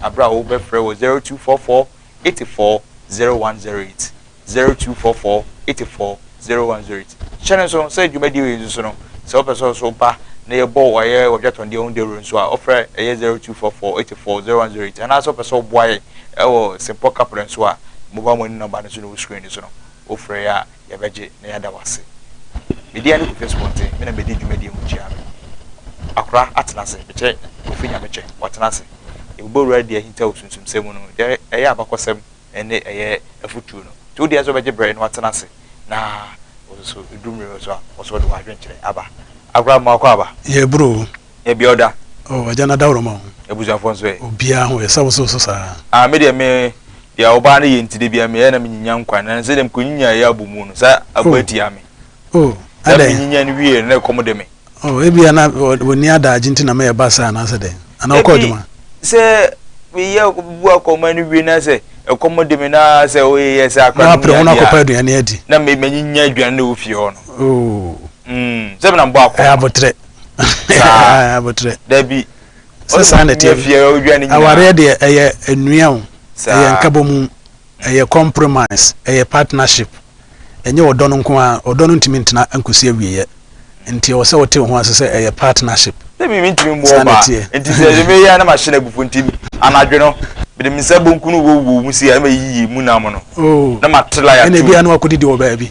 bere a wobɛfrɛ wɔ 0244 84 0108, 0244 84 0108. Hyɛ no nso sɛ dwumadie wei nso so no, sɛ wopɛ sɛ ɔso ba na yɛbɔ wo ayɛ wɔ dwatɔndeɛ ho dawuro nso a, ɔfrɛ ɛyɛ 0244 84 0108. Anaasɛ wopɛ sɛ ɔboa yɛ wɔ Simpɔ Kapre nso a, mobile money number no nso na ɛwɔ screen no so no. Wofrɛ yɛ a, yɛbɛgye na yɛada wo ase. Medin ne Kofi Asubɔnten, me na medi dwumadie mu kyia no. Akora atena ase, mekyɛ Kofi Nyamekyɛ, watena ase. Yɛbobɔ wura de ahintaw sunsumsɛm mu no, deɛ ɛyɛ abakɔsɛm ne ɛyɛ afutuo no. Nti wodeɛ sɛ wobɛgye berɛ na watena ase na wo nso ɛduru mmerɛ bi so a, wo nso wode w'adwenkyerɛ aba. Akora mmoa kɔ aba. Yɛreboro o. Ebia ɔda. Oh, Agya no adaworoma ho. Abusuafoɔ nso ɛ? Obiara ho yɛ, sɛ wo nso wo so saa? Ah, me deɛ me, deɛ ɔbaa no yɛ nti da biara meyɛ na menyinya nkwa, na sɛdeɛ mekɔnyinyaa yɛ abɔ mu no, sɛ abɔ Oh, atia me. oh, Sɛ adɛn? menyinya no wieeɛ no, na ɛkɔm de me. Oh, ebia na wɔ, wɔnni adaagye nti na mɛyɛ ba saa anaasɛ dɛn? Anaa wokɔ Dabi, adwuma? sɛ meyɛ bu akɔma no wie na sɛ ɛkɔm de me na sɛ woyɛ saa Na koraa na woapere ho wonya na adeɛ a, woakɔpɛ aduane adi? na me, manyinya aduane no wɔ fie hɔ no. Oh, Mm, sɛ menam bɔ akɔma. ɛyɛ aboterɛ. saa abotrɛ dabi sɛ saa na ɛteɛ awareɛ deɛ ɛyɛ nnua o ɛyɛ nkabɔ mu ɛyɛ compromise ɛyɛ partnership ɛnyɛ ɔdɔ no nko a ɔdɔ no ntumi ntena nkɔsi awieɛ nti ɛwɔ sɛ wote wo ho ase sɛ ɛyɛ partnership dabi mentumi mmu ɔba nti sɛ de meyɛ na mahyɛ no abufuo nti anadwo no mede me nsa bonkunu wowɔ mu si a na mayiyi mu nam no oh. na mate la yɛto ɛna ebia na wakɔdidi wɔ baabi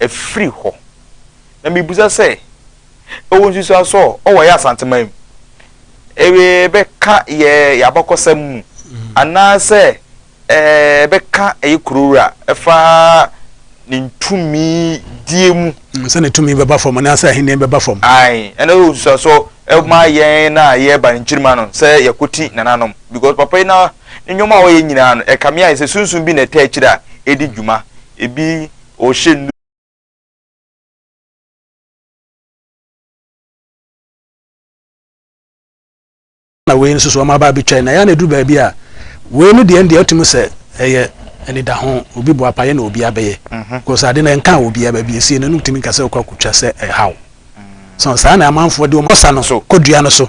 afiri hɔ. Na mebisa sɛ, ɛwɔ nsusuaso a ɔwɔ yɛ Asanteman mu? Ɛbɛka yɛ yɛ abakɔsɛm mu? Anaasɛ ɛbɛka ɛyɛ kurowura ɛfa ne ntumi die mu? Sɛ ne tumi bɛba fam anaa sɛ ahenni bɛba fam? Ae, ɛno ɛwɔ nsusuaso ɛma yɛn a yɛba ne nkyirimma no sɛ yɛkɔti nananom. Because papa yi na ne nneɛma a ɔyɛ nyinaa no ɛkame ayɛ sɛ sunsum bi na ɛtaa akyire a ɛdi dwuma. Ɛbi. Ɔhyɛ nnuru. Na wei nso so, wɔaba abɛtwa. Na ɛyɛ a na ɛduru baabi a, wei no deɛ ɛndeɛ wotumi sɛ ɛyɛ anidaho, obi boapayɛ na obi abɛyɛ. Because ade no ɛnkaa obiara, baabi a ɛsiiɛ no, na wotumi nka sɛ wokɔ akɔtwa sɛ ɛhaw. So saa na amanfoɔ de wɔn ɔsa no kɔdua no so.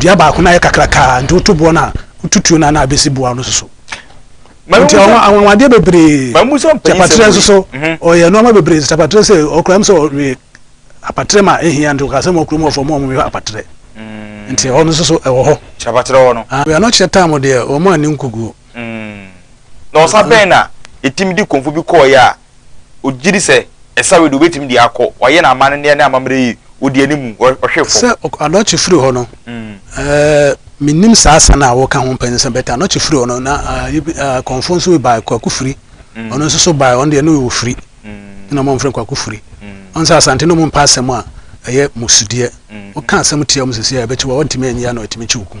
dua baako na ayɛ kakrakaa nti woto boɔ no a wotutuo no a na abɛsi boɔ no soso nti anwanwadeɛ bebree kyapatrɛ nso so ɔyɛ nnoɔma bebree nti kyapatrɛ sɛ ɔkura m sɛ ɔwe apatrɛ ma ɛhia nti ɔka sɛ ma ɔkuro mu ɔfɔ ma ɔmwe apatrɛ nti ɛhɔ no nso so ɛwɔ hɔ kyapatrɛ hɔ no wia no kyerɛ tam deɛ wɔn ani nkuguo na ɔsa bɛn na ɛtumi de kɔmfo bi kɔɔyɛ a Ɔgye di sɛ ɛsa wei deɛ ɔbɛtumi de akɔ, wayɛ no amanneɛ ne amammerɛ yie, ɔdi anim, ɔhwe fam. Sɛ Anokye firi hɔ no, mennim saa sa no a woka ho mpɛn sɛ, but Anokye firi hɔ no, na Kɔmfoɔ nso bi baeɛ, Kwaku Firi, ɔno nso so baeɛ, ɔno deɛ ne ɔwɔ Firi nti na wɔmfrɛ no Kwaku Firi. Wohu sɛ Asante no wɔmpɛ asɛm a ɛyɛ mmusudeɛ, woka asɛm tia wɔn seesei a, ɛbɛkye wo a, wontumi anyi ano, ɛtumi kye wo kum.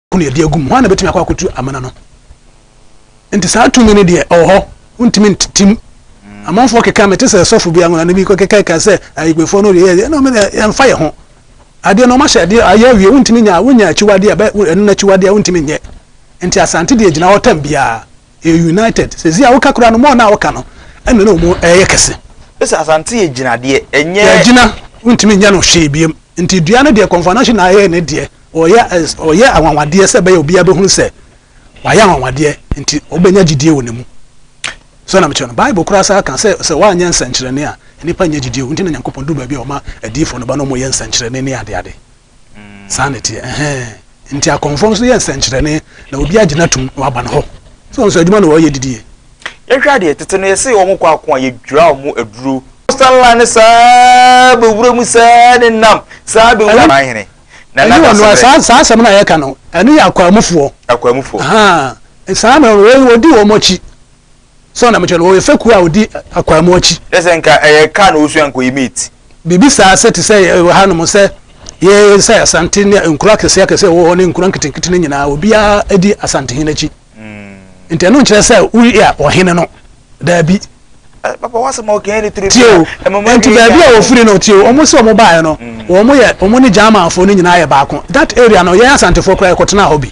ko na yɛde agu mu. Hwan na bɛtumi akɔ akɔtu amena no? Nti saa tumi no deɛ ɔwɔ hɔ, wontumi ntetim. Amanfoɔ keka mete sɛ sɔfo bi anwona no bi kɔkekaeka sɛ ayigbefoɔ no deɛ yɛ no yɛmfa yɛ ho. Adeɛ no ɔmahyɛ adeɛ ayɛ awie wontumi nya wonya akyiwadeɛ a ɛno no akyiwadeɛ a wontumi nyɛ. Nti Asante deɛ gyina hɔ tam biara. yɛ united sɛsi a woka koraa no more na woka no ɛna na ɔmo ɛyɛ kɛse. Bese asante yɛ gyinadeɛ ɛnyɛ. Yɛagyina wontumi nyɛ no hwee biom nti dua no deɛ kɔnfanahye na ayɛ ne deɛ ɔyɛ ɔyɛ anwanwadeɛ sɛ ɛbɛyɛ obiara bɛhunu sɛ wayɛ anwanwadeɛ nti wobɛnya gyidie wɔ ne mu sɛ na mekyerɛ no bible koraa saa ka sɛ sɛ woanyɛ nsɛnkyerɛnne a nnipa nyɛ gyidie wɔ nti na Nyankopɔn duru baabi a ɔma adiyifoɔ no ba na ɔmo yɛ nsɛnkyerɛnne ne adeade Saa na ɛteɛ. Ɛhɛɛ. Nti akɔmfoɔ nso yɛ nsɛnkyerɛnne na obiara gyina tum na waba no hɔ. So wɔn nso adwuma na wɔyɛ didie. Yɛhwɛ adeɛ, tete no yɛse wɔn kɔ ako a, yɛdwira wɔn aduro. Coastal land no saa bɛwura mu saa ne nam saa bɛwura. Ɛno man hene na na da semrɛ. Ɛno saa asɛm no a yɛka no, ɛno yɛ akwaamufoɔ. Akwaamufoɔ. Ahaa, saa mmerɛ no wɔdi wɔn akyi. Sɛn na mekyerɛ no? Wɔyɛ fekuw a wodi akwaamu akyi. Kyerɛ sɛ nka ɛyɛ car na wosua nka ɔyɛ mate. Biribi saa sɛ te sɛ wɔ hanom sɛ yɛn sɛ Asante ne nkuro akɛseɛ akɛseɛ a ɛwɔ hɔ ne nkuro nketenkete no nyinaa obiara di Asantehene akyi. Nti ɛno nkyerɛ sɛ woyɛ ɔhene no. Daabi. Papa w'asɛm a ɔka yi ne toro Tie o, nti baabi a wɔfiri no, tie o, wɔn se wɔn baeɛ no, wɔn yɛ, wɔn ne Germanfoɔ no nyinaa yɛ baako. That area no, yɛn Asantefoɔ koraa yɛkɔtenaa hɔ bi.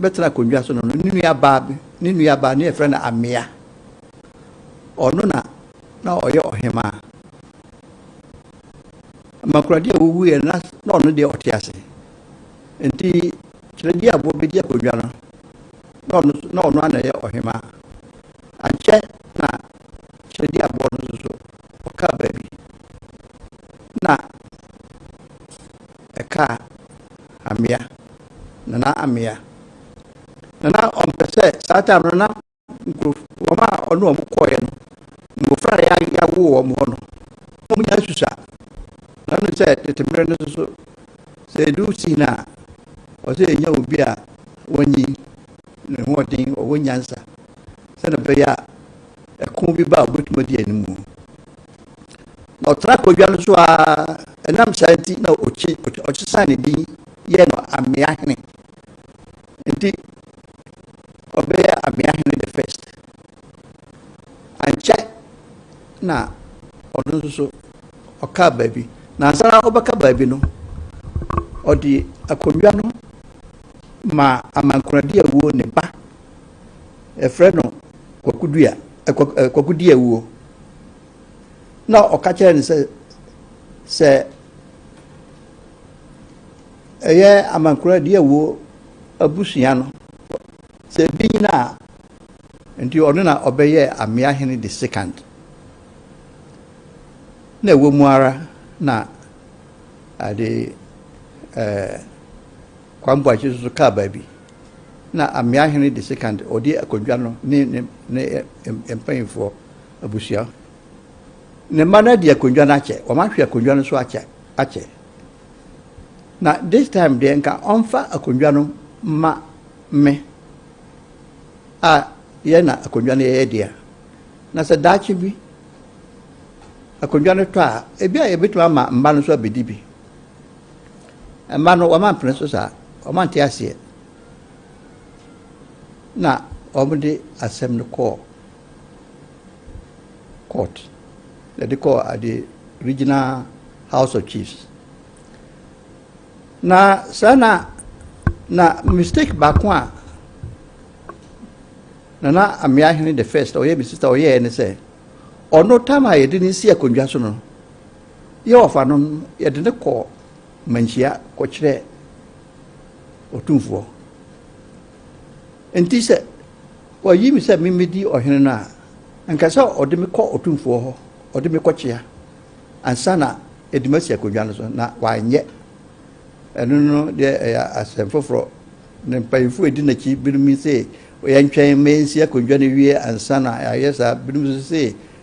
bɛtena akonnwa so no, ne nuabaa bi, ne nuabaa ne yɛfrɛ no Amea. Ɔno na na ɔyɛ ɔhemaa. Mankuradi a ɔwuiɛ no, na ɔno deɛ ɔte ase. Nti Kyerɛdi Aboɔ bɛdi akonnwa no, na ɔno nso, na ɔno ara na ɛyɛ ɔhemaa. Ankyɛ na Kyerɛdi Aboɔ no nso so, ɔkaa baabi, na ɛkaa Amea. Nana Amea. Na na ɔmpɛ sɛ saa time no na nkurɔfo wɔn a ɔne wɔn kɔeɛ no mmɔfra a yɛ- yɛawo wɔn hɔ no wɔn nyinaa susua na no sɛ tete mmerɛ no nso so sɛ ɛdu sii no a ɔsɛ yɛnya obi a wɔnyi ne ho ɔden ɔwɔ nyansa sɛdeɛ ɛbɛyɛ a ɛko bi ba a ɔbɛtumi adi anim Na ɔtena podwa no so ara, ɛnam saa nti na ɔsesaa ne din yɛɛ no amea hene. Nti ɔbɛyɛ amea hene the first. Ankyɛ na ɔno nso so ɔkaa baabi. Na ansa na ɔbɛka baabi no, ɔde akonnwa no ma amankoradi awuo ne ba Yɛfrɛ no Kwaku Dua, eh, Kwaku, eh, Kwaku Dua wuo. Na ɔka kyerɛ no sɛ, sɛ ɛyɛ amankora Dua wuo abusua no, sɛ ebi nyina a, nti ɔno na ɔbɛyɛ amea hene de second. Na ɛwɔ mu ara na ade ɛɛ. Eh, Kwame Boakye nso so kaa baabi na Amea Hene de Sekand ɔde akondwa no ne ne mpanyinfoɔ abusua ne mma no adi akondwa no akyɛ, wɔn ahwe akondwa no so akyɛ akyɛ. Na this time deɛ nka ɔmfa akondwa no ma me a yɛ na akondwa no yɛyɛ deɛ na sɛ daakye bi akondwa no tɔ a ebi a yɛbɛtumi ama mma no nso abɛdi bi. Mma no wɔma mpene so saa, wɔma nte aseɛ. Na wɔde asɛm no kɔɔ court, yɛde kɔɔ ade regional house of chiefs. Na saa na na mistake baako a nana amea hene the first ɔyɛ me sista ɔyɛɛ ne sɛ ɔno tam a yɛde ne si akonnwa so no Yɛ ɔfa no no, yɛde no kɔ manhyia kɔkyerɛ ɔtumfoɔ. Enti sɛ wɔayi me sɛ memmɛdi ɔhene no a, anka sɛ ɔde me kɔ ɔtumfoɔ hɔ, ɔde me kɔkyea, ansa na yɛde masi akonnwa no so, na wanyɛ. Ɛno no deɛ ɛyɛ asɛm foforɔ. Ne mpanyimfoɔ a ɛdi n'akyi binom se, yɛntwɛn ma yɛnsi akonnwa no wie ansa na yɛayɛ saa. Binom nso se,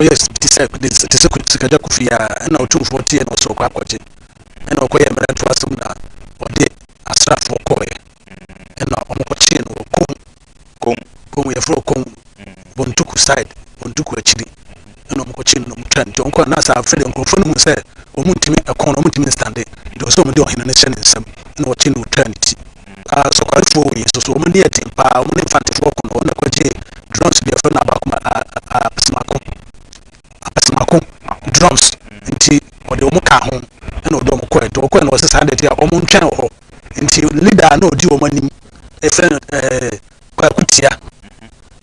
ɔkɔyɛɛ te sɛ te sɛ sikagya kofi a ɛna ɔtumfoɔ teɛ na ɔsɛ ɔkɔ akɔgye ɛna ɔkɔyɛ mmerɛntoɔ asɛm na ɔde asraafoɔ kɔɔɛ ɛna ɔmokɔkyee no wɔ kom kom kom yɛfrɛ kom bontuku side bontuku akyiri ɛna ɔmokɔkyee no na ɔmotwa nti ɔmokɔ na saa afei de nkurɔfoɔ no hu sɛ ɔmontumi ɛkɔn no ɔmontumi nstande nti ɔsɛ ɔmode ɔhene no hyɛ ne nsam ɛna ɔkye no ɔtwa ne ti Ah, Sokwarefoɔ wei nso so, wɔn deɛ ɛten paa, wɔn ne Mfantefoɔ ko no, wɔn na kɔgyee drones deɛ yɛfrɛ no abaako, a, a, apesemako, apesemako drones, nti wɔde wɔn kaa ho, ɛna wɔde wɔn kɔɛ, nti wɔkɔɛ no wɔsɛ saa deɛ ɛte a, wɔn ntwɛn wɔ hɔ, nti leader a na ɔdi wɔn anim, yɛfrɛ no ɛɛ. Kwaku Tia.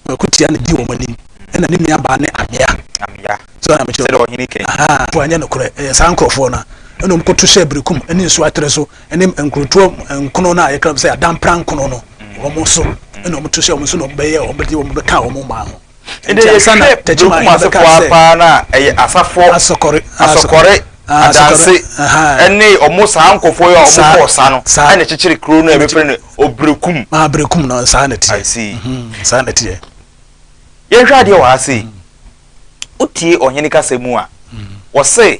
Kwaku Tia na di wɔn anim, ɛna ne nua baa ne Amea. Amea. So na mekyerɛ. Sɛdeɛ ɔhene kɛn. Ahaa, po anyɛ nokorɛ, ɛyɛ saa nkorɔfoɔ no ɛna wɔn kɔto hyɛɛ Berekum ɛne nsuo atere so ɛne nkurotoɔ nkono no a yɛkra sɛ Adampra nkono no, wɔn so ɛna wɔn to hyɛɛ wɔn so na wɔn bɛyɛɛ wɔn bɛde wɔn bɛkaa wɔn mmaa ho. Ede yɛ hwɛ Benkum asefoɔ ara paa na ɛyɛ Asafɔ, Asɔkɔre, Adanse ne ɔmo saa nkɔfoɔ yi a ɔmo kɔɔ sa no ɛna ɛkyekyere kuro no a yɛbɛ frɛ no Obrekum. Maa Brekum no saa na ɛteɛ. I see. Saa na ɛteɛ. Yɛnhwɛ adeɛ wɔ ha sei. Wotie ɔhene kasa mu a, wɔse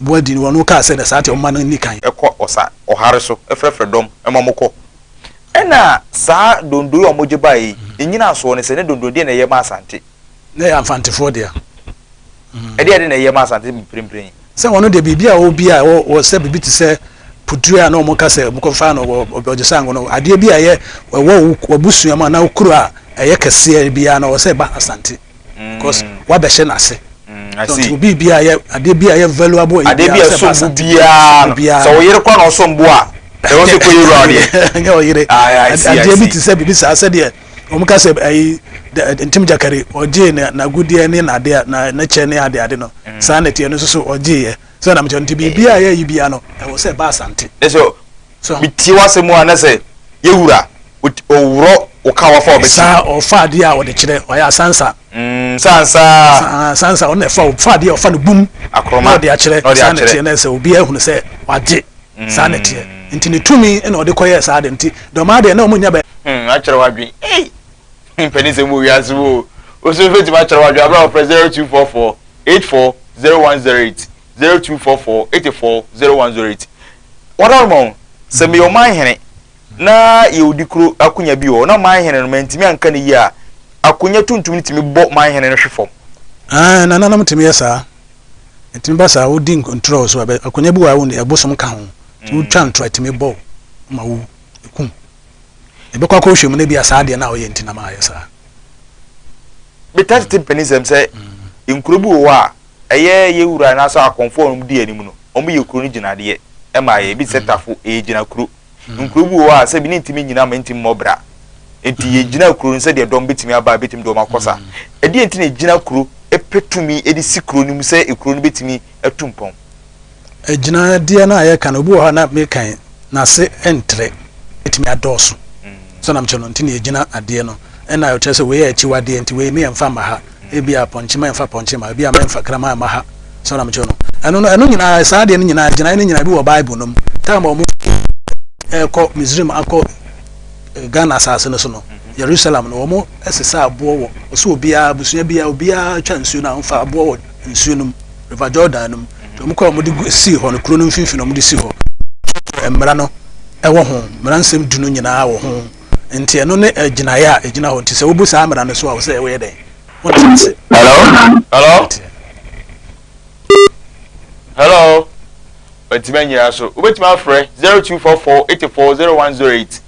bua dii no, wɔn no kaa sɛ, Na saa nti ɔmma no nni kan. Kɔ ɔsa, ɔhare so, frɛfrɛ dɔm ma mo kɔ. Ɛna saa donno yi a wɔgye baeɛ yi, nnyina soɔ ne sɛ, ne donno deɛ na ɛyɛ ma Asante. Na ɛyɛ Amfantefoɔ dea. Ɛdeɛ de na ɛyɛ ma Asante mprempren yi. Sɛ wɔn no deɛ biribi a wɔwɔ bi a ɛwɔ sɛ biribi te sɛ Pudue a na wɔn ka sɛ wɔkɔ faa no wɔ Ɔdwosango no, adeɛ bi a ɛyɛ ɛwɔ wɔ abusua mu anaa wɔ kuro a ɛyɛ kɛseɛ biara no, ɛwɔ sɛ ɛba Asante. because wabɛhyɛ n'ase nti obi bi a yɛ adeɛ bi a yɛ valuable yɛ adeɛ bi a ɛsom bo biara sɛ ɔyere kɔ na ɔsom bo a ɛwɔ sɛ kɔ yɛwura ɔdeɛ ɛnyɛ ɔyere adeɛ bi te sɛ biribi saa sɛdeɛ wɔn ka sɛ ɛyi ntim gyakari ɔgyee na n'agudeɛ ne n'adeɛ na n'akyɛ ne adeɛ ade no saa na ɛteɛ no nso so ɔgyeeɛ sɛ ɔnam kyɛ nti biribi a yɛyi bia no ɛwɔ sɛ ɛba asante ɛsɛ Metie w'asɛm mu a na sɛ yɛ wura ɔworɔ wo ka wafa ɔbɛkyi. Saa ɔfa adeɛ a ɔde kyerɛ ɔyɛ asansa. Mm, sansa. Asansa ɔno na ɛfa ɔfa adeɛ ɔfa no bum. Akoroma. Na ɔde akyerɛ saa na ɛteɛ na sɛ obiara hunu sɛ wagye saa na ɛteɛ nti ne tumi na ɔde kɔyɛ saa de nti dɔmaa deɛ na ɔmo nya bɛ. Hmm, akyerɛ wadwen. Ei, mpɛni sɛ mo wiase wo. Osu mfɛtumi akyerɛ wadwen abira ɔfrɛ 0244 84 0108 zero two four four eighty four zero one zero eight wɔdɔn ma wɔn sɛ meyɛ ɔman hene na yɛ odi kuro akonya bi wɔ na ɔman hene no mantumi anka ne yie a akonya tuntum no tumi bɔ ɔman hene no hwe fam. Aane nananom tumi yɛ saa ɛtumi ba saa wodi ntorɔ wɔ so a akonya bi wɔ a wɔn ɛbosom ka ho nti wotwa ntorɔ ɛtumi bɔ ma wo ekum ɛbɛkɔ akɔ hwɛ mu na bi a saa adeɛ na ɔyɛ nti na ma ayɛ saa. Bɛtaa tete mpanisɛm sɛ nkuro bi wɔ hɔ a. Ɛyɛ yɛ wura anaasɛ akɔmfo a wɔn di anim no, wɔn yɛ kuro no gyinadeɛ ma yɛ. Ebi te sɛ tafo, ɛyɛ gyinakuro. Nkuro bi wɔ hɔ a sɛ bi ne ntumi nnyina ma ɛntumi mmɔ bra. Nti yɛ gyina kuro no sɛdeɛ dɔm bɛtumi aba a bɛtumi de wɔn akɔ sa. Ɛdeɛn nti na yɛ gyina kuro pɛ tumi de si kuro no mu sɛ kuro no bɛtumi atu mpɔn? agyinadeɛ no a yɛka no obi wɔ hɔ a na mekan n'ase ntrɛ ɛtumi adɔɔso sɛ nam kyerɛ no nti ne ɛgyina adeɛ no ɛna ɛkyerɛ sɛ wei yɛ akyiwadeɛ nti wei meyɛ mfa mma ha ebi a pɔnkye ma ɛmfa pɔnkye ma ebi a mɛmfa kraman ma ha sɛ nam kyerɛ no ɛno no ɛno nyinaa saa adeɛ no nyinaa gyinae no nyinaa bi wɔ bible no mu tam a wɔn ɛkɔ misrim akɔ eh, ghana asase no so no jerusalem no wɔn ɛsesa aboɔ wɔ ɔsɛ obiara abusua biara obiara twa nsuo no a wɔfa aboɔ wɔ nsuo no mu, River Jordan no mu, nti wɔn kɔɔ wɔn de gu sii hɔ no, kuro no mfimfini na wɔn de si hɔ, kyerɛkyerɛ mmara no ɛwɔ ho, mmara nsɛm du no nyinaa wɔ ho, nti ɛno ne ɛgyinaeɛ a ɛgyina hɔ, nti sɛ wobu saa mmara no so a, wɔsɛ woyɛ dɛn? Wonte ase. Hello? Hello? Hello? Ɔntumi anyina so, wobɛtumi afrɛ 0244 84 0108.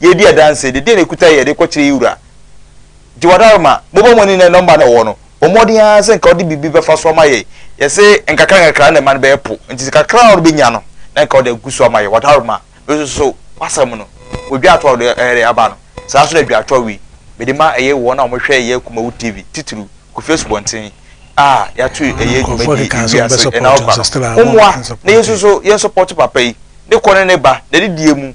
Yɛredi adanse de, deɛ na ɛkuta yɛn de kɔkyerɛ yɛn wura. Gye w'adaworo ma. Mobɔ mo ani nnɛ nɔmba no a ɔwɔ no. Bɔ mmɔden ara sɛ nka wode biribi bɛfa so ama yɛn. Yɛse nkakrankakra na ɛma no bɛyɛ po, nti sɛ kakra a wobɛnya no, na nka wode agu so ama yɛn. W'adaworo ma. Mesusu w'asɛm no, wɔ dwa toa a wode ɛɛde aba no, saa ara nso na dwa toa wei, mede ma ɛyɛ wɔn a wɔhwɛ yɛn Kumawu TV, titiriw, Kofi Asubɔnten, a yɛato ɛyɛ dwumadie yi wiase ɛnawɔkwa no. Mommoa na yɛn nso so yɛnsɔpɔto papa yi, ne kɔ ne ne ba, n'adidie mu,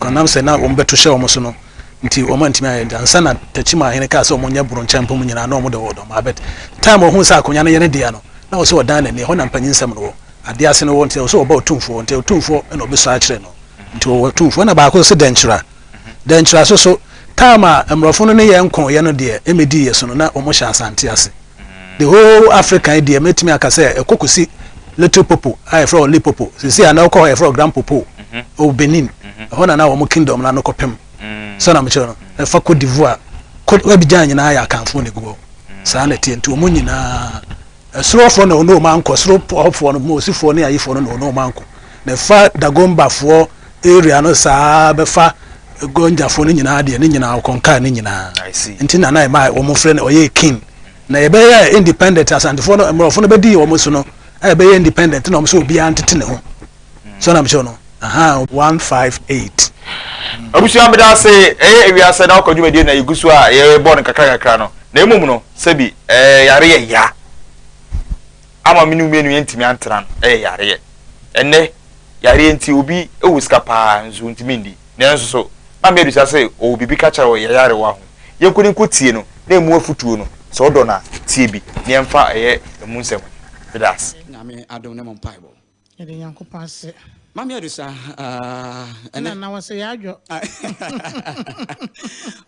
Ɔnam sɛ na wɔbɛto hyɛ wɔn so no nti wɔantumi anyɛ nti ansa na Takyima ahene kaa sɛ wɔnyɛ boro nkyɛn mpem nyinaa na wɔde wɔn ma but time ɔhuu sɛ akonya no yɛ ne dea no na ɔsɛ ɔdan n'ani ɛhɔ na mpanyinsɛm no wɔ ade ase no wɔ nti ɔsɛ ɔba otumfoɔ nti otumfoɔ na ɔbɛsua akyerɛ no nti ɔwɔ otumfoɔ na baako sɛ dɛnkyira dɛnkyira so so time a mmorɔfo no ne yɛn kɔɔeɛ no deɛ ɛmɛdii yɛ so no na wɔhyɛ Asante ase. the whole Africa yi deɛ mɛtumi aka sɛ ɛkɔ kɔsi Little Popo a yɛfrɛ wɔ Lipopo sisi a na wokɔ hɔ yɛfrɛ wɔ Grand Popo ɛwɔ Benin ɛhɔ na na wɔn kingdom no ano kɔpem sɛ na mekyerɛ no ɛfa Cote d'Ivoire Cote Abidjan nyinaa yɛ akanfoɔ na ɛgu hɔ saa na ɛteɛ nti wɔn nyinaa ɛsorofoɔ na ɔne wɔn ankɔ sorofoɔ no mosifoɔ ne ayifoɔ no na ɔne wɔn ankɔ na ɛfa Dagombafoɔ area no saa bɛfa Gonjafoɔ no nyinaa deɛ ne nyinaa ɔkɔnkaa ne nyinaa nti na na ɛma wɔn frɛ no ɔyɛ king na yɛbɛyɛ independent asantefoɔ no mmorɔfo no bɛdi wɔn so no a ɛbɛyɛ independent na wɔn sɛ obiara ntete ne ho so na mekyɛw no aha one five eight. Abusua meda ase ɛyɛ ewiase na ɔkɔ dwumadie na yɛgu so a yɛbɔ no kakra kakra no na mmom no sɛbi ɛɛ yare yɛ ya. ama me ne wo mmienu yɛntumi antena no yɛ yareɛ. Ɛnnɛ, yareɛ nti obi wɔ sika pa ara nso ɔntumi nni. Nanso so na me abisa sɛ ɔwɔ biribi ka kyerɛ wo yɛn nyarewa ho? Yɛn kɔ ne nkɔ tie no na ɛmu afutuo no, sɛ wo dɔ no a, tie bi na yɛmfa yɛ ɛmu nsɛm. Meda ase. Nyame adom ne mo mpaebɔ. Yɛde Nyankopɔn ase. Mame Adusa aah ɛnɛ. Nana wɔsɛ yɛ adwo.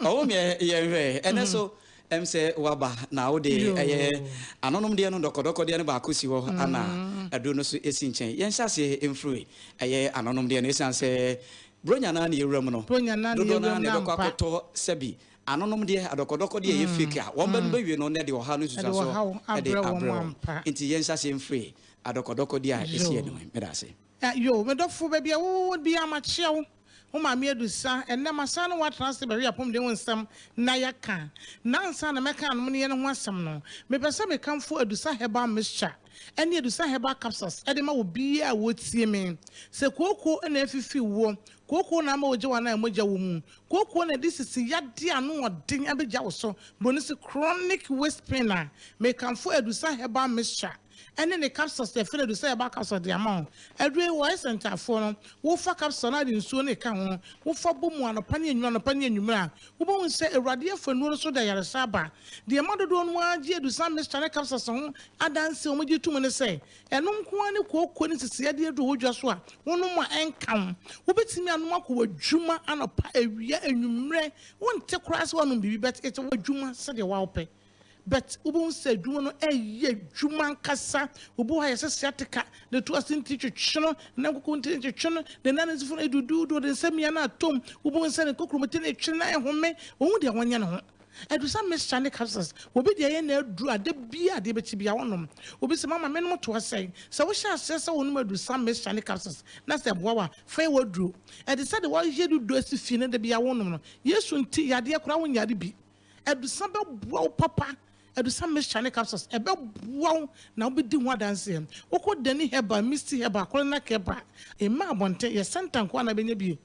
Ɔwo meɛ yɛ nhwɛ ɛnɛ so ɛm sɛ waba na wode ɛyɛ anonom deɛ no dɔkɔdɔkɔ deɛ no baako si hɔ ana aduro no so esi nkyɛn yɛn hyɛ aseɛ mfiri ɛyɛ anonom deɛ no esan sɛ bronya naa ne yɛwura mu no dodoɔ naa na ɛbɛkɔ akɔtɔ sɛbi anonom deɛ adɔkɔdɔkɔ deɛ ɛyɛ fake a wɔn bɛ no bɛ wie no na ɛde ɔha no nsusuaso ɛde abrɛ wɔn nti yɛn hyɛ aseɛ mfiri Adɔkɔdɔkɔdi a ɛsi Yoo. anim. Meda ase. Ah Yoo me dɔfo baabi a wo wɔ biaa makyea wo wo maame adusa ɛnnɛ masan ne wo atena ase bɛhwɛ apɔmuden ho nsɛm na yɛaka na ansa na mɛka anomeneɛ no ho asɛm no mepɛ sɛ mekamfo adusa herbal mixture ɛne adusa herbal capsules ɛde ma obiaa a ɔretie me sɛ kooko na afifi woɔ kooko na ama wogya wo anaa mogya wɔ mu kooko na ɛde sisi yadeɛ a ano wɔ den abɛgya wo so bronese chronic waist pain a mekamfo adusa herbal mixture ɛne ne capsules yɛ fɛ na edu sɛ yɛba capsule de ama wo. Aduru yi wɔ Esentafoɔ no, wofa capsule no a de nsuo no reka ho, wofa bɔ mu anɔpa ne anwummere anɔpa ne anwummere a, wobɛhu sɛ Awurade afa nnuro no so de ayaresa aba. Deɛ ɛma dodoɔ no ara gye Adusan Mixture ne capsules ho adanseɛ a wɔgye tom ne sɛ, ɛno nko ara ne kooko ne nsisii adeɛ aduru a ɛwɔ dwa so a wonom a ɛnka wo. Wobɛtumi anom akɔ w'adwuma anɔpa, awia, anwummere, wonte koraa sɛ woanom biribi but it's w'adwuma sɛdeɛ wopɛ. but wobɛhu sɛ adwuma no ɛyɛ adwuma ankasa. Obi wɔ hɔ a yɛsɛ sciatica, na ɛtu ase nti twetwe no, ne nan koko nti twetwe no, ne nan anansifoɔ no ɛduduudu, ɔde ne nsa mia no ato mu, wobɛhu sɛ ne kokuromoti no retwene na ɛhome, ɔhu deɛ ɔnyɛ ne ho. Aduru sɛ mixture ne capsules, obi deɛ ɛyɛ n'aduru a da biara adeɛ bɛkye biara ɔnom. Obi sɛ mama menom toa sɛn? Sɛ wohyɛ aseɛ sɛ wonom aduru sɛ mixture ne capsules na sɛ ɛboa wo a, fa yɛ w'aduro. Ɛte sɛ deɛ woayɛ dudu asi fie na da biara wonom no, Yesu nti yadeɛ koraa wonyare bi. Adusa bɛboa wo papa, adusa mixture ne capsules, ɛbɛboa wo na wobɛdi ho adanseɛ. Wokɔ Dani Herbal, Misty Herbal, Koronak Herbal, mmaa abɔnten, yɛ center nko ara na wobɛnya bi.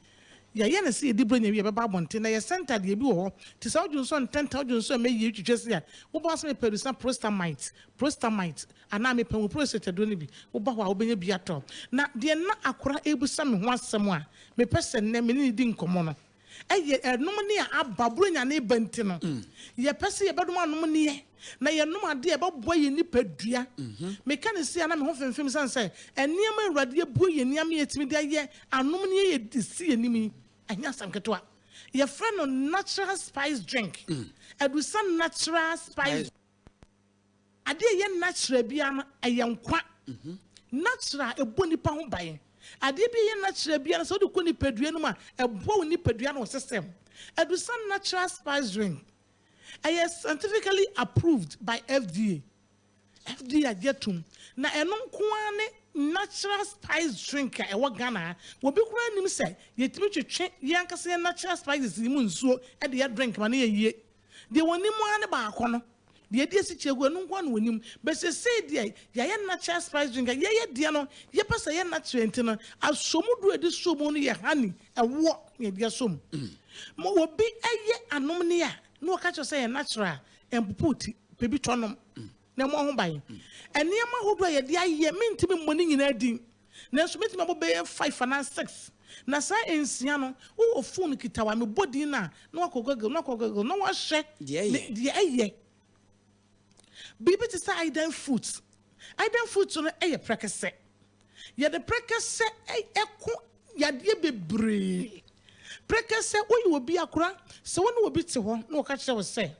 Yɛayɛ no sɛ yɛdi Burenya wie a ɛbɛba abɔnten, na yɛ center deɛ ebi wɔ hɔ te sɛ wodwo nso ntɛntɛm, wodwo nso ɛmɛ yie, wotwitwa sei a, woba hɔ sɛ mepɛ adusa Prostamite, Prostamite, anaa mepɛ wo prostate aduro no bi, woba hɔ a wobɛnya bi atɔ. Na deɛ na Akora rebisa me ho asɛm a mepɛ sɛ nnɛ me ne no di nkɔmmɔ no, Ɛyɛ ɛnom nne a aba Buronya ne ba nti no, yɛpɛ sɛ yɛbɛnom anom nneɛ na yɛnom adeɛ a ɛbɛboa yɛn nipadua. Meka no sei a na me ho femfem ɛsiane sɛ nneɛma a Awurade abue yɛn ani ama yɛatumi de ayɛ anom nneɛ a yɛde si yɛn anim yi, ɛnyɛ asɛm ketewa. Yɛfrɛ no natural spice drink, adusa natural spice. Ade a ɛyɛ natural biara no, ɛyɛ nkwa. Natural a ɛbɔ nipa ho ban. Adeɛ bi a ɛyɛ natural biara no, sɛ wode kɔ nipadua no mu a, ɛboa wo nipadua ne wo system. Adusa natural spice drink, ɛyɛ scientifically approved by FDA. FDA agye atom. Na ɛno nko ara ne natural spice drink a ɛwɔ Ghana ha. Obi koraa nnim sɛ yɛtumi twetwe yɛn ankasa yɛn natural spices yi mu nsuo de yɛ drink ma no yɛ yie. Deɛ wɔnim ara ne baako no. Deɛ yɛde asi kyerɛ hɔ, ɛno nko ara na wɔnim. But seesei deɛ, yɛayɛ natural spice drink a, yɛyɛ deɛ no, yɛpɛ sɛ ɛyɛ natural nti no, asomudu a yɛde sɔ mu no yɛ honey, ɛwoɔ, na yɛde asɔ mu. Ma obi yɛ anomne a, na wɔka kyerɛ wo sɛ ɛyɛ natural a, ɛmpopo wo ti. Pɛ bi tɔ nom, na ɛmmɔ ho ban. Nneɛma ahodoɔ a yɛde ayɛ, mentumi mmɔ ne nyinaa din. Nanso mɛtumi abɔ bɛyɛ five anaa six. Na saa nsia no, wowɔ fon kitawa, mebɔ din no a, na wakɔ Google, na wakɔ Google, na wahwɛ deɛ ɛyɛ. Biribi te sɛ Aydan fruit. Aydan fruit no yɛ prɛkɛsɛ. Yɛde prɛkɛsɛ ɛko yadeɛ bebree. Prɛkɛsɛ, woyɛ obi akora, sɛ wo ne obi te hɔ na wɔka kyerɛ wo sɛ,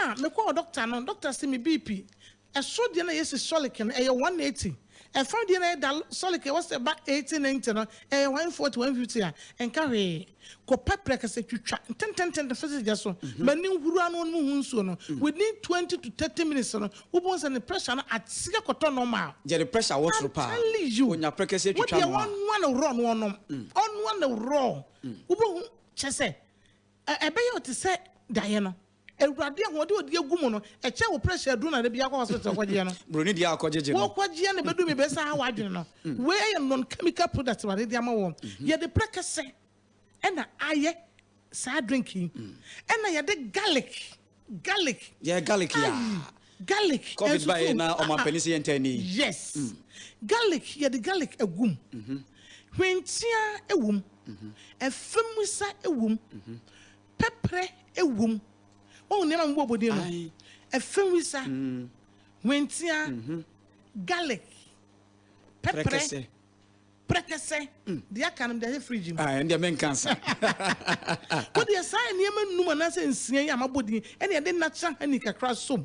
ah, mekɔɔ dɔkta no, dɔkta se me BP Ɛsoro deɛ na yɛsi sɔleke no ɛyɛ one eighty, ɛfam deɛ na yɛ da sɔleke ɛwɔ sɛ ɛba eighty ninety no ɛyɛ one forty, one fifty a ɛnka hwee. Kɔ pɛ prɛkɛsɛ twitwa ntententen fa si gya so ma ani nhuru ano no mu ho nsuo no, within twenty to thirty minutes no wobɛhu sɛ ne pressure no ate akɔtɔ normal. Gya de pressure wɔ soro paa, I'm telling you, ɔnya prɛkɛsɛ twitwa wodeɛ no a. ɔnoa no raw na ɔnom, ɔnoa no raw wobɛhu, kyerɛ sɛ ɛbɛyɛ wo te sɛ daeɛ no. Awurade ahoɔden a ɔde agu mu no, ɛkyɛɛ wo pressure aduru na da biara kɔ hospital kɔgyeɛ no. Buroni deɛ a ɔkɔgyegye no. Wokɔgyeɛ no bɛduru baabi ɛbɛsan ha w'adwene no. Wei ɛyɛ non chemical product Awurade de ama wo. Yɛde prɛkɛsɛ ɛna ayɛ saa drink yi. Ɛna yɛde garlic, garlic. Yɛ garlic yaa. Ayi, garlic. Covid ba yɛ na ɔmo apɛni sɛ yɛn tɛ ni. Yes. Garlic, yɛde garlic agu mu. Hwentia ɛwɔ mu. Ɛfɛmwisa ɛwɔ mu. Pɛprɛ wɔ mu. Woahu nneɛma a mebɔ bɔ din no? Afenwisa, hwentia, garlic, pɛprɛ, prɛkɛsɛ, deɛ aka no mede ahyɛ fridge mu. Ah, ɛndeɛ menka nsa. Wodeɛ saa nneɛma nnum anaasɛ nsia yi a mabɔ din ɛne ɛde natural honey kakra som.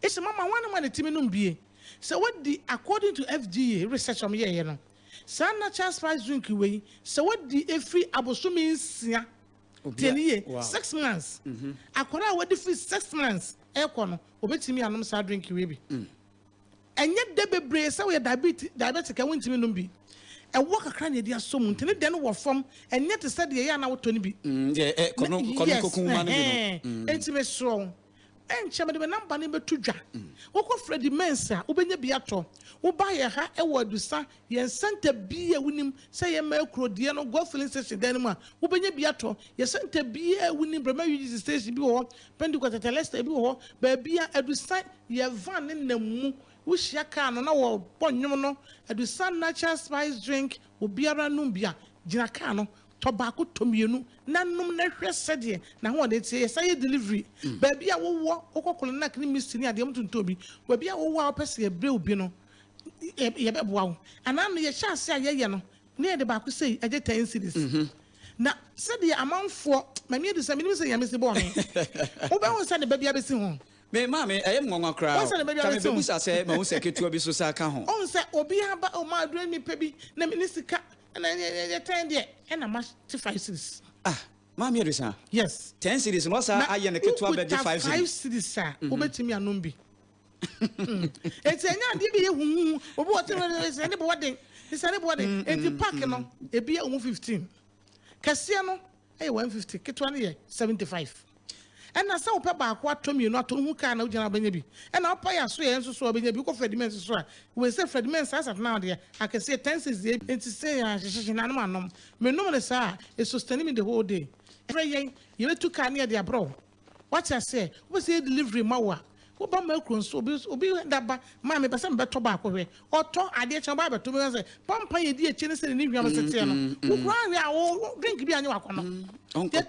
Ese mama wɔn nom a ne timi nom bie. Sɛ wadi according to FDA research a wɔn yɛɛyɛ no, saa natural spice drink wei sɛ wadi firi abosome nsia, tie no yie, six months, akwadaa a wadi firi six months rekɔ no, wɔbɛtumi anom saa drink wei bi. Ɛnyɛ dɛ bebree sɛ woyɛ diabetic, diabetic a wontumi nom bi. Ɛwɔ kakra na yɛde asɔ mu nti ne dɛ no wɔ fam, ɛnyɛ te sɛ deɛ ɛyɛ a na wotɔ no bi. Mm, deɛ ɛ, kɔno, kɔno Yes, kokunma no bi no. ɛhɛn. Mm. Nti mesrɛ wo. Ɛnkyɛ mede me namba no bɛto dwa. Wokɔ Freddie Mains a, wobɛnya bi atɔ. Woba yɛn ha wɔ Adusa, yɛn sɛnta biara a wonim sɛ ɛyɛ mmaa kuro deɛ no, Gulf Filling Station dan no mu a, wobɛnya bi atɔ. Yɛn sɛnta biara a wonim, Brema UGC Station bi wɔ hɔ, Pentecost Tetelestai bi wɔ hɔ, baabiara, Adusa, yɛn van no nam mu. Wohyia kaa no na wɔbɔ nnwom no, Adusa Natural Spice Drink, obiara nom bi a, gyina kaa no. tɔ baako tɔ mmienu na nom na hwɛ sɛdeɛ n'ahoɔden teɛ. Yɛsan yɛ delivery baabi a wowɔ, wokɔ Kolanach ne Misty ne adeɛ wɔtontɔn bi, baabi a wowɔ a wopɛ sɛ yɛbrɛ wo bi no yɛbɛboa wo. Anaa no yɛhyɛ ase a yɛyɛ no na yɛde baako sei ɛgye ten cedis. Na sɛdeɛ amanfoɔ, Maame Adu sɛ menim sɛ Nyame si bɔɔ me, wobɛhu sɛ ne ba bi abɛsi ho. Me maame, ɛyɛ me nwanwa koraa o, ka mebɛbusa sɛ mahu sɛ ketewa bi so saa ka ho. Wohu sɛ obi aba o, Maame Adu mepɛ bi na menni sika. Ɛna ɛnyɛ ɛnyɛ ɛnyɛ tɛn deɛ ɛna ma te five series. Ah maame Adesina. Yes. Ten series na ɔsa ayɛ ne ketewa bɛ de five series. Na five series a wobɛtumi mhm. anom bi. Eti ɛnyɛ adeɛ bi yɛ huhuhu obi wɔ tɛn ɛna ɛsɛ ne bɔ wɔden ɛsɛ ne bɔ wɔden eti paaki no ebi yɛ ɔmo fifteen kɛseɛ no yɛ one fifty, ketewa no yɛ seventy five. Ɛna sɛ wopɛ baako atɔ mmienu atɔ wohu kaa na wogyina a wobɛnya bi. Ɛna wopɛ yɛ aso yɛ nso so a wobɛnya bi. Wokɔ Freddie Men's so a wei sɛ Freddie Men's saa sat now deɛ akɛseɛ ten cedis ebi. Nti sɛ yɛanhyehyehye na anom anom. Menom no saa a it sustaini me the whole day. Frɛ yɛn yɛbɛtu kaa ne yɛde abrɛ wo. Wate aseɛ? Wopɛ sɛ yɛ delivery ma wo a, woba ma kuro nso, obi nso, obi da ba, Maa, mepɛ sɛ mebɛtɔ baako hwɛ. Ɔtɔ adeɛ kyɛ, ɔba abɛto, meka sɛ, Pampan a ɛdi akyire ne sɛdeɛ ne hwam se teɛ no, wo koraa nhwɛ a, wo, wo drink bi a nyɛ w'akɔnnɔ. Deɛ ɛtɔ